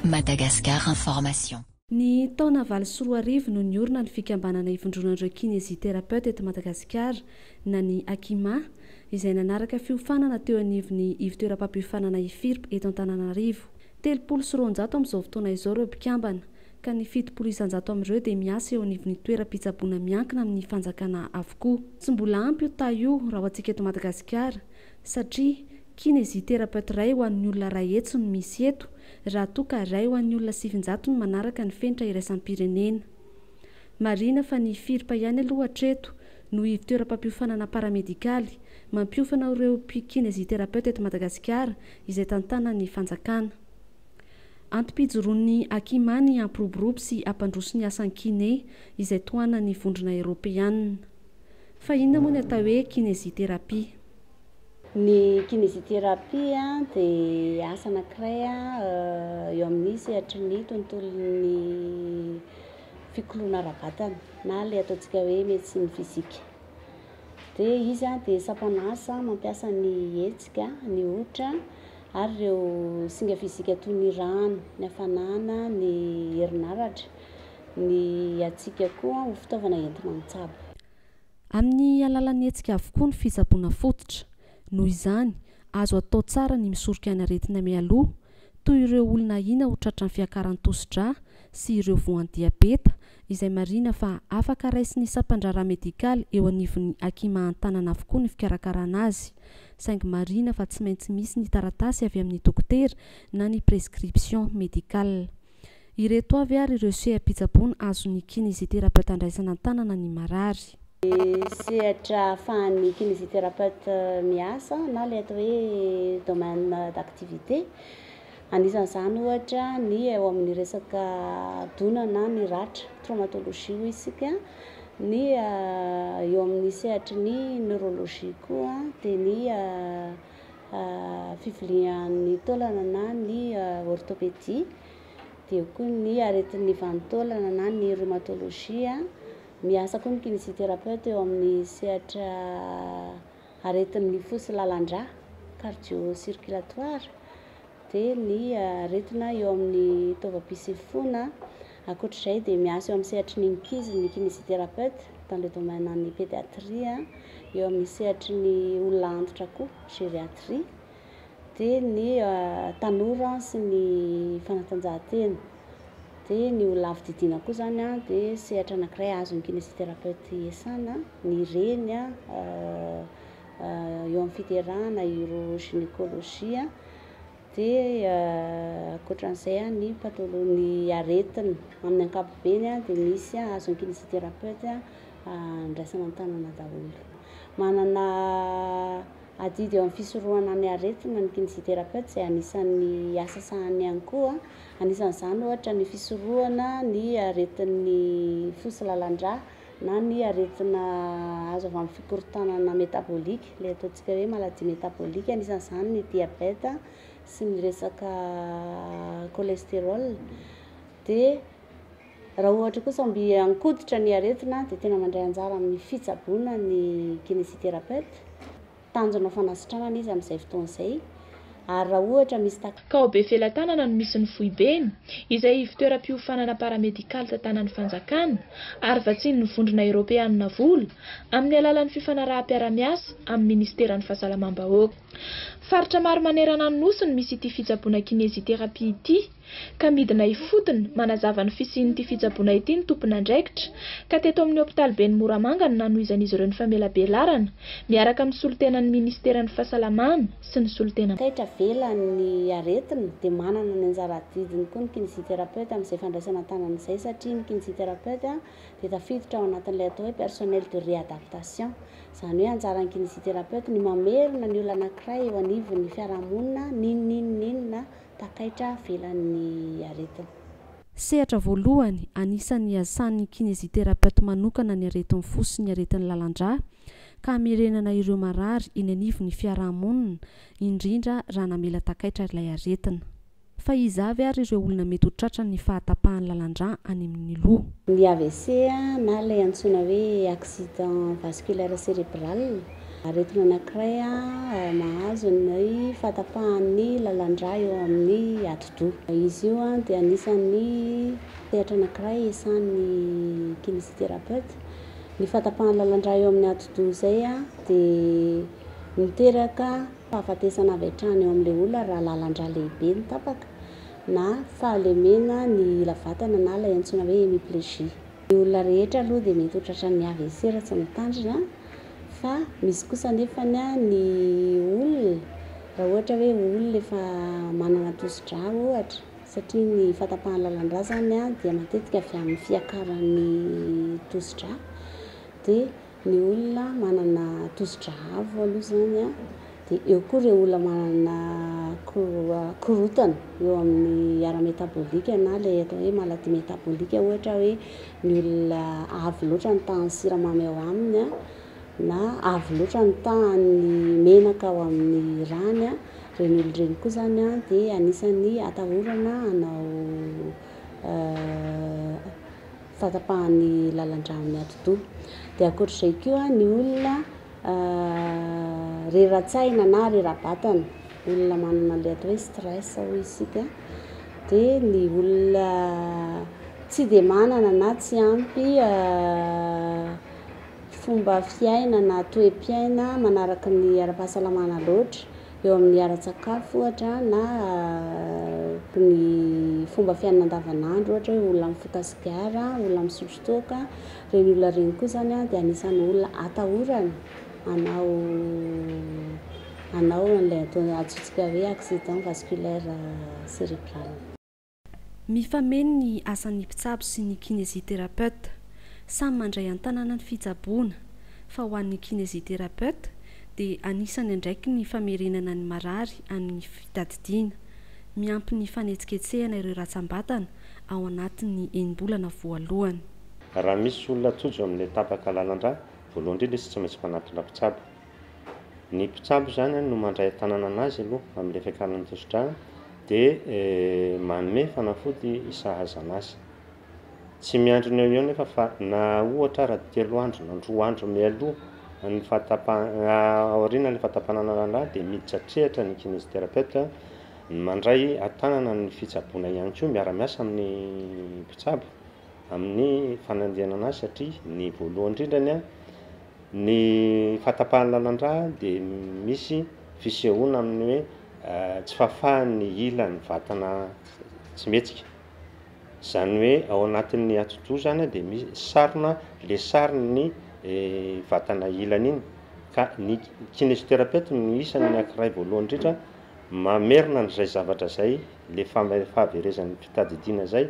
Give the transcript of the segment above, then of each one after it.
Madagascar Information. Ny taona valo sy roa arivo no niorina ny fikambanana ivondronan'ireo Kinésithérapeutes eto Madagasikara na ny Akima, izay nanaraka fiofanana teo anivon'ny ivontoeram-pampiofanana Ifirp eto Antananarivo. Telopolo sy roanjato amin'izao fotoana izao ireo mpikambana, ka ny fitopolo isan-jato amin'ireo dia miasa eo anivon'ny toeram-pitsaboana miankina amin'ny fanjakana avokoa. Tsy mbola ampy io taha io raha ho antsika eto Madagasikara, satria Kinesiterapeute iray ho an'ny olona iray hetsy no misy eto, raha toa ka iray ho an'ny olona sivinjato no manaraka ny fenitra iraisam-pirenena. Marihina fa ny FIRP ihany aloha hatreto no ivtoeram-pampiofanana paramedikaly, mampiofana ireo Kinesiterapeute eto Madagasikara, izay tantanan'ny fanjakana. Antom-pijoroan'ny Akima ny hampiroborobo sy hampandroso ny asan'ny kine izay tohanan'ny vondrona eoropeanina. Fa inona moa ny atao hoe kinesithérapie? Ny kinesithérapie dia asa anankiray eo amin'ny sehatry ny tontolon'ny fikoloana ara-batana na ilay ataontsika hoe médecine physique. dia izy dia sampana asa mampiasa ny hetsika, ny hoditra ary ireo singa fizika toy ny rano, ny hafanana, ny herinaratra, ny hatsiaka koa ho fitaovana entina mitsabo. Amin'ny alalan'ny hetsika avokoa ny fitsaboana fototra. Noho izany, azo atao tsara ny misoroka ny aretina mialoha, toy ireo olona ahiana ho tratran'ny fiakaran-tosi-drà sy ireo voan-diabeta, izay marihina fa afaka raisin'ny sampan-draharaha medikaly eo anivon'ny hakimahan-tanana avokoa ny fikarakarana azy, saingy marihina fa tsy maintsy misy ny taratasy avy amin'ny dokotera na ny prescription médicale. Ireto avy ary ireo seha-pitsaboana azon'ny kinesithérapeute andraisana an-tanana ny marary. Ny sehatra ahafahan'ny kinesithérapeute miasa na ilay atao hoe domaine d'activité. Anisan'izany ohatra ny eo amin'ny resaka dona na ny ratra, traumatologie hoy isika. Ny eo amin'ny sehatry ny neurologie koa dia ny fivilian'ny taolana na ny orthopédie, dia eo koa ny aretin'ny vanin-taolana na ny rhumatologie, miasa koa ny kinésithérapeute eo amin'ny sehatra aretin'ny fo sy lalan-drà, cardio circulatoire. dia ny aretina eo amin'ny taovam-pisefoana. Ankoatra izay dia miasa eo amin'ny sehatry ny ankizy ny kinésithérapeute dans le domaine an'ny pédiatrie, eo amin'ny sehatry ny olona antitra koa gériatrie, dia ny tanora sy ny fanatanjahantena, dia ny olona avo didiana koa izany dia sehatra anankiray azon'ny kinésithérapeute iasana, ny reny an, eo amin'ny fiderana urogynecologie dia ankoatran'izay ny patholo- ny aretina amin'ny ankapobeny dia misy azon'ny kinésithérapeute andraisana an-tanana daholo. Manana adidy eo amin'ny fisorohana ny aretina ny kinésithérapeute izay anisan'ny asa sahaniny ihany koa, anisan'izany ohatra ny fisorohana ny aretin'ny fo sy lalan-drà na ny aretina azo avy amin'ny fikorontanana métabolique, ilay ataontsika hoe maladie métabolique, anisan'izany ny diabeta sy ny resaka cholestérol, dia raha ohatra kosa mby ankoditra ny aretina dia tena mandray anjara amin'ny fitsaboana ny kinésithérapeute. tanjona fanasitrana anie izy amin'izay fotoana izay ary raha ohatra misy tak. Ka ao Befelatanana no misy ny foibeny, izay ivontoeram-piofanana paramedikaly tantanan'ny fanjakana, ary vatsian'ny Vondrona Eoropeanina vola, amin'ny alalan'ny fifanaraham-piarahamiasa amin'ny Minisiteran'ny Fahasalamam-bahoaka. Faritra maro manerana ny Nosy no misy ity fitsaboana kineziterapia ity. ka midina ifotony manazava ny fisian'ity fitsaboana ity ny tompon'andraikitra, ka teto amin'ny hopitaliben'i Moramanga no nanohizan'izy ireo ny famelabelarana, miaraka amin'ny solontenan'ny minisiteran'ny Fahasalamana sy ny solontenan'ny. Taitra velany ny aretina, dia manana ny anjara adidiny koa ny kinesiterapeute amin'izay fandraisana an-tanana izay, satria ny kinesiterapeute dia tafiditra ao anatin'ilay atao hoe personnel de réadaptation, izany hoe anjaran'ny kinesiterapeute ny mamerina ny olona anankiray eo anivon'ny fiarahamonina n'inon'inon'inona takaitra avelan'ny aretina. Sehatra voalohany anisan'ny hiasan'ny kineziterapeute manokana ny aretin'ny fo sy ny aretin'ny lalan-drà ka hamerenana ireo marary eny anivon'ny fiaraha-monina, indrindra raha namela takaitra ilay aretina. Fa iza avy ary ireo olona mety ho tratran'ny fahatapahan'ny lalan-drà any amin'ny loha? Ny AVC na ilay antsoina hoe accident vasculaire cérébral Aretina anankiray mahazo ny fahatapahan'ny lalan-drà eo amin'ny atidoha. Izy io dia anisan'ny sehatra anankiray iasan'ny kinésithérapeute. Ny fahatapahan'ny lalan-drà eo amin'ny atidoha izay dia miteraka fahafatesana avy hatrany eo amin'ilay olona raha lalan-drà lehibe no tapaka na fahalemenan'ny ila vatana na ilay antsoina hoe hémiplégie. Ny olona rehetra aloha dia mety ho tratran'ny AVC raha tsy mitandrina fa misy kosa anefa ny olona raha ohatra hoe olona efa manana tosi-drà ohatra satria ny fahatapahan'ny lalan-drà izany dia matetika avy amin'ny fiakaran'ny tosi-drà dia Ny olona manana tosidra avo aloha izany an, dia eo koa ireo olona manana korontana eo amin'ny ara métabolique na ilay atao hoe maladie métabolique ohatra hoe ny olona avo loatra ny tahan'ny siramamy ao aminy an, na avo loatra ny tahan'ny menaka ao amin'ny rany an, ireny olona ireny koa izany an dia anisan'ny atahorana hanao fahatapahan'ny lalan-drano ny atidoha. Dia ankoatr'izay koa ny olona rera-tsaina na rera-batana, olona manana an'ilay atao hoe stress hoy isika, dia ny olona tsy dia manana na tsy ampy fomba fiaina na toe-piaina manaraka ny ara-pahasalamana loatra eo amin'ny ara-tsakafo ohatra na ny fomba fiainana andavanandro ohatra hoe olona mifoka sigara, olona misotro toaka, ireny olona ireny koa izany dia anisan'ny olona atahorana hanao hanao an'ilay atao antsointsika hoe accident vasculaire cerebral. Mifameno ny asan'ny mpitsabo sy ny kinésithérapeute. Samy mandray an-tanana ny fitsaboana, fa ho an'ny kinésithérapeute dia anisan'ny andraikiny ny famerenana ny marary amin'ny fitadidiana. Miampy ny fanetsiketsehana ireo ratsam-batana ao anatin'ny enim-bolana voalohany. Raha misy olona tojo amin'ny tapaka lalandrà, voalohany indrindra izy tsy maintsy manantona mpitsabo. Ny mpitsabo izany an no mandray an-tanana an'azy aloha amin'ilay fiakaran'ny tosi-drà dia manome fanafody sahaza an'azy. Tsy miandry ny eo ho eo nefa fa na ohatra ara telo andro na roa andro mialoha ny fahatapahan- aorianan'ny fahatapahana ny lalà dia miditra an-tsehatra ny kinésithérapeute mandray an-tanana ny fitsaboana ihany koa miara-miasa amin'ny mpitsabo. amin'ny fanandrianana azy satria ny voalohany indrindra ny ny fahatapahan'ny lalan-drà dia misy fisehoana amin'ny hoe tsy fahafahan'ny ilan'ny vatana tsy mihetsika, izany hoe ao anatin'ny atidoha izany dia misy sarona le saron'ny vatana ilany iny ka ny kinesioterapeute no isany ny ankiray voalohany indrindra mamerina an'izay zavatra izay le fahaverezan'ny fitadidiana izay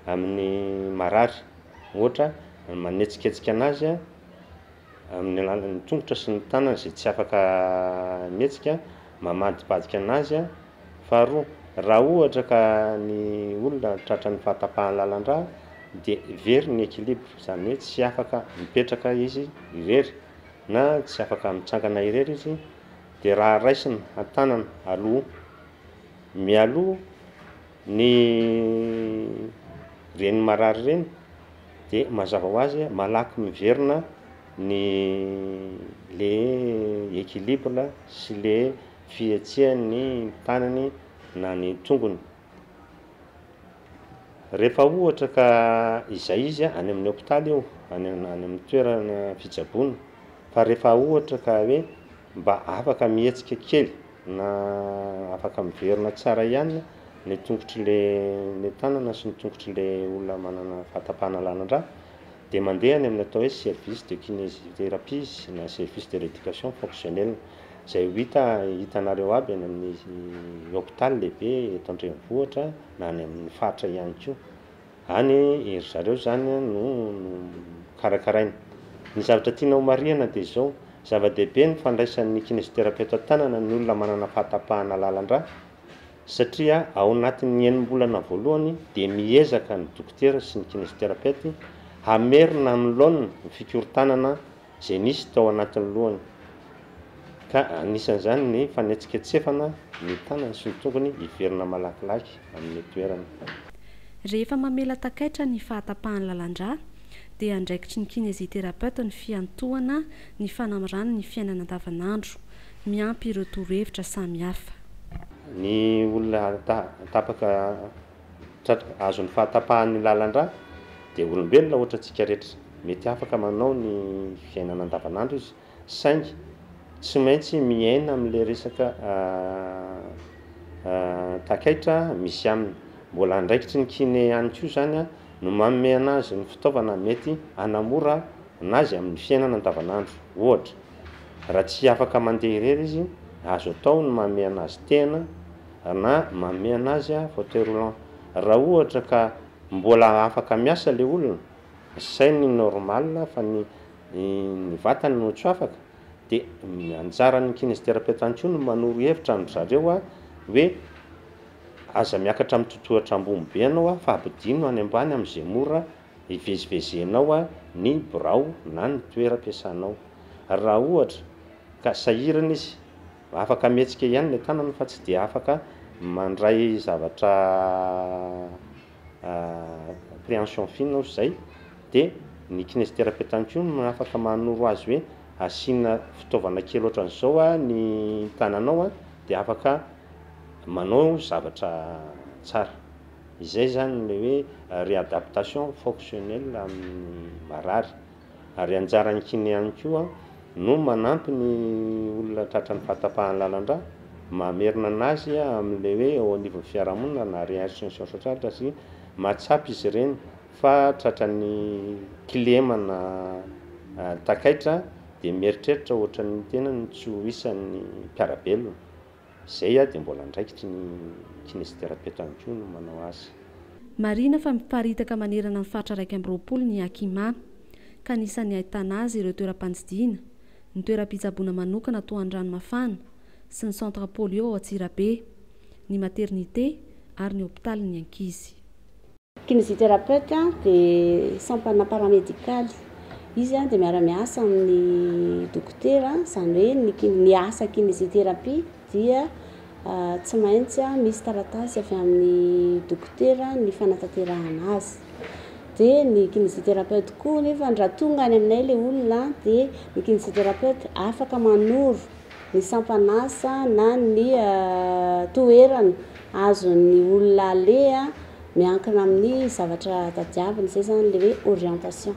amin'ny marary, ohatra, manetsiketsika anazy amin'ny alalan'ny tongotra sy ny tanana izay tsy afaka mihetsika, mamadibadika anazy, faharoa, raha ohatra ka ny olona tratran'ny fahatapahan'ny lalan-drà dia very ny équilibre, izany hoe tsy afaka mipetraka izy irery na tsy afaka mitsangana irery izy dia raha raisina an-tanana aloha mialoha, Ny reny marary reny dia mazava ho azy malaky miverina ny le equilibre sy le fihetsehan'ny tanany na ny tongony. Rehefa ohatra ka izay izy any amin'ny hopitaly io, any amin'ny toerana fitsaboana, fa rehefa ohatra ka hoe Mba afaka mihetsika kely na afaka miverina tsara ihany ny tongotr'le ny tanana sy ny tongotr'le olona manana fahatapahan'alanan-drà dia mandeha any amin'ny atao hoe service de kinésithérapie na service de rééducation fonctionnelle izay ho hita hitanareo aby any amin'ny hopitaly lehibe eto an-drenivohitra na any amin'ny faritra ihany koa. Any e, ry zareo izany no karakaraina. Ny zavatra tiana homarihana dia izao, zava-dehibe ny fandraisan'ny kinesiterapeota an-tanana ny olona manana fahatapahana lalan-drà, satria ao anatin'ny enim-bolana voalohany dia miezaka ny dokotera sy ny kinesiterapeute hamerina amin'ny laoniny ny fikorontanana izay nisy tao anatin'ny lohany, ka anisan'izany ny fanetsiketsefana ny tanany sy ny tongony hiverina malakilaky amin'ny toerany. Rehefa mamela takaitra ny fahatapahan'ny lalan-drà, dia andraikitry ny kinésithérapeute ny fiantohana ny fanamirany ny fiainana andavanandro. Miampy ireo torohevitra samihafa. Ny olona tapaka. Tratran'ny azon'ny fahatapahan'ny lalan-drà dia olombelona ohatra antsika rehetra. Mety afaka manao ny fiainana andavanandro izy saingy tsy maintsy miaina amin'ilay resaka takaitra misy aminy. Mbola andraikitry ny kiné ihany koa izany no manome anazy ny fitaovana mety hanamora anazy amin'ny fiainana andavanandro. Ohatra, raha tsy afaka mandeha irery izy, azo atao ny manome anazy tehana Ana, manome anazy aho fauteuil roulant raha ohatra ka mbola afaka miasa le olona, zay ny normal fa ny ny vatany no tsy afaka, de ny anjaran'ny kinésithérapeute ihany koa no manoro hevitra an-dry zareo a, hoe aza miakatra amin'ny totohatra ambony be ianao a, fa ampidino any ambany am'zay mora ivezivezenao a, ny birao na ny toeram-piasanao. Raha ohatra ka sahirana izy. Afaka mihetsika ihany ilay tanana fa tsy dia afaka mandray zavatra préhension fine ohatry izay dia ny kinésithérapeute ihany koa no afaka manoro azy hoe asiana fitaovana kely ohatran'izao ny tananao dia afaka manao zavatra tsara. Izay izany ilay hoe réadaptation fonctionnelle amin'ny marary. Ary anjaran'ny kiné ihany koa no manampy ny olona tratran'ny fahatapahan'ny lalan-drà, mamerina an'azy amin'ilay hoe eo anivon'ny fiarahamonina na réinsertion sociale raha tsy mahatsapa izy ireny fa tratran'ny kilema na takaitra dia mieritreritra ohatran'ny tenany tsy ho isan'ny mpiara-belona. Izay aho dia mbola andraikitry ny kinesiterapeto ihany koa no manao azy. Marihina fa miparitaka manerana ny faritra iraika amby roapolo ny Akima, ka anisan'ny ahitana azy ireo toeram-pandidiana, ny toeram-pitsaboana manokana toa an'i Ranomafana sy ny centre polio ao Antsirabe, ny maternité ary ny hopitalin'ny ankizy. Kinesiterapeute dia sampana paramedikaly. Izy dia miara-miasa amin'ny dokotera, izany hoe ny ki- ny asa kinesiterapia dia tsy maintsy misy taratasy avy amin'ny dokotera ny fanatanterahana azy. Dia ny kinesiterapeute koa nefany raha tonga any aminay ilay olona dia ny kinesiterapeute afaka manoro ny sampan'asa na ny toerana azon'ny olona aleha miankina amin'ny zavatra tadiaviny, izay izany ilay hoe orientation.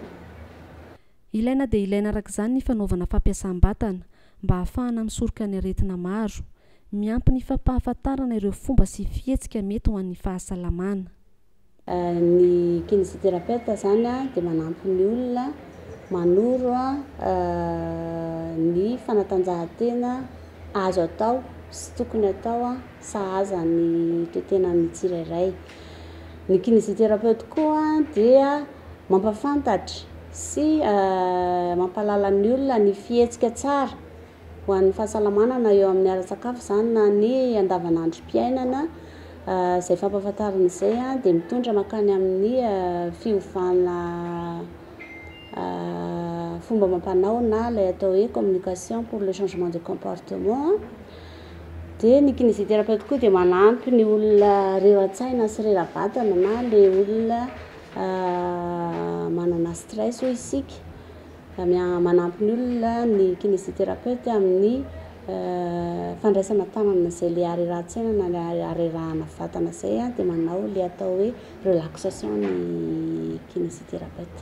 Ilaina dia ilaina araka izany ny fanaovana fampiasam-batana, mba ahafahana misoroka ny aretina maro. Miampy ny fampahafantarana ireo fomba sy fihetsika mety ho an'ny fahasalamana. Ny kinesiterapeute izany dia manampy ny olona manoro ny fanatanjahantena azo atao sy tokony atao sahaza ny toe-tenan'ny tsirairay. Ny kinesiterapeoty koa dia mampafantatra sy mampahalala ny olona ny fihetsika tsara ho an'ny fahasalamana na eo amin'ny ara-tsakafo izany na ny andavanandrom-piainana. Izay fampahafantarana izay dia mitondra mankany amin'ny fiovana fomba amam-panao na ilay atao hoe communication pour le changement de comportement. Dia ny kinésithérapeute koa dia manampy ny olona rera-tsaina sy rera-batana na ilay olona manana stress hoy isika, manampy ny olona ny kinésithérapeute amin'ny fandraisana tanana izay ilay harerahan-tsaina na ilay harerahana vatana izay dia manao ilay atao hoe relaxation ny kinésithérapeute.